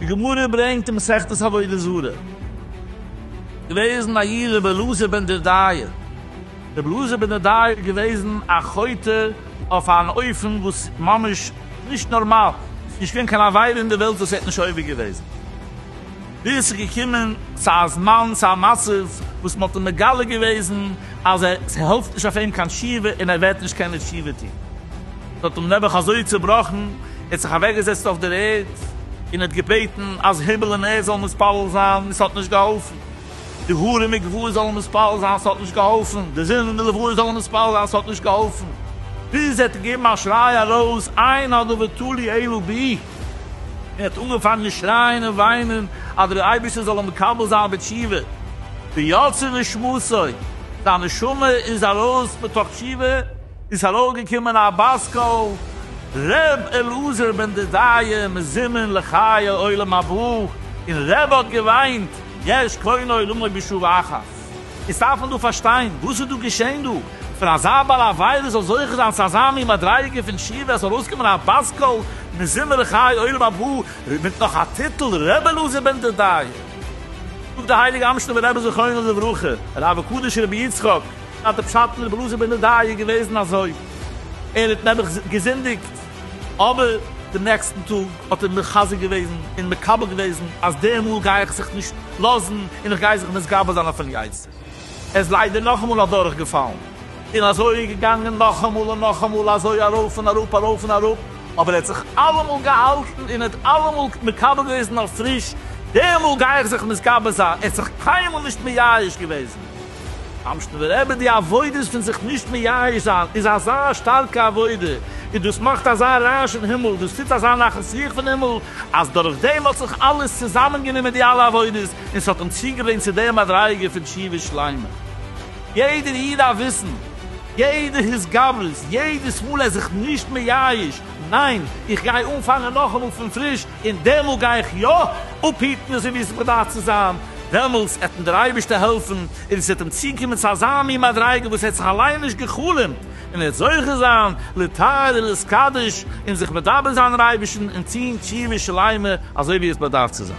די גמרא ברענגט אין מסכת עבודה זרה, געוועזן א איד רבי אלעזר בן דודאי, רבי אלעזר בן דודאי איז געוועזן א חוטא אויף אן אופן וואס ממש נישט נארמאל, ס'איז נישט געווען קיין עבירה אין די וועלט וואס ער האט נישט עובר געוועזן, ווי עס איז געקומען צו א זמן צו א מצב וואס מען האט אים מגלה געוועזן אז עס העלפט נישט אויף אים קיין תשובה און ער וועט נישט קענען תשובה טוהן. עס האט אים נעבעך אזוי צובראכן, ער האט זיך אוועק געזעצט אויף דער ערד און האט געבעטן אז הימל און ערד זאלן מתפלל זיין, עס האט נישט געהאלפן. די האר און מקוואות זאלן מתפלל זיין, עס האט נישט געהאלפן. די זון און די לבנה זאלן מתפלל זיין, עס האט נישט געהאלפן. ביז ער האט געגעבן א שריי ארויס, איין אדא ותלי אלא בי. ער האט אנגעפאנגען שרייען און וויינען אז דער אייבערשטער זאל אים מקבל זיין בתשובה, ויצא לשמותו, זיין נשמה איז ארויס מתוך תשובה, און ס'איז ארויפגעקומען א בת קול, ר' אלעזר בן דודיה מזימין לחיי עולם הבא, און ר' האט געוויינט, יש קונה עולמו בשוב אחת. עס דארף מען דא פארשטיין וואס איז דא געשען דא, פון אזא בעל עבירה זאל זוכה זיין צו אזא מין מדריגה פון תשובה, עס זאל ארויסקומען א בת קול מזמר לחיי עולם הבא, מיט נאך א טיטל ר' אלעזר בן דודאי. זאגט דער הייליגער אמשינובער רבי זכרונו לברכה, הרב הקדוש רבי יצחק, אז דער פשט פון ר' אלעזר בן דודאי איז געוועזן אזוי, ער האט נעבעך געזינדיגט, אבער דעם נעקסטן טאג האט ער מחזק געוועזן און מקבל געוועזן אז די מאל גיי איך זיך נישט לאזן און איך גיי זיך מתגבר זיין אויפן יצר. ער איז ליידער נאכאמאל אדורך געפאלן און אזוי איז געגאנגען נאכאמאל און נאכאמאל אזוי ארויף און אראפ ארויף און אראפ אבער ער האט זיך אלעמאל געהאלטן און ער האט אלעמאל מקבל געוועזן אויף פריש די מאל גיי איך זיך מתגבר זיין ער האט זיך קיינמאל נישט מייאש געוועזן. אמשטרבער רבי, די עבודות פון זיך נישט מייאש זיין איז אזא שטארקע עבודה, און דאס מאכט אזא רעש אין הימל, דאס טוט אזא נחת רוח פון הימל, אז דורך דעם האט זיך אלעס צוזאמען גענומען די אלע עבודות, און ס'האט אים צוגעברענגט צו דער מדריגה פון תשובה שלימה. יעדער איד דארף וויסן, יעדע התגברות, יעדעס מאל ער זיך נישט מייאש, ניין, איך גיי אנפאנגען נאכאמאל פון פריש, און דעמאלט גיי איך יא אפהיטן אזוי ווי עס באדארף צו זיין, דעמאלטס עט אים דער אייבערשטער העלפן און עס וועט אים צוקומען צו אזא מין מדריגה וואס ער האט זיך אליין נישט גע'חלומ'ט, און ער וועט זוכה זיין להתאר ולהתקדש און זיך מדבק זיין אין אייבערשטן און טון תשובה שלימה אזוי ווי עס באדארף צו זיין.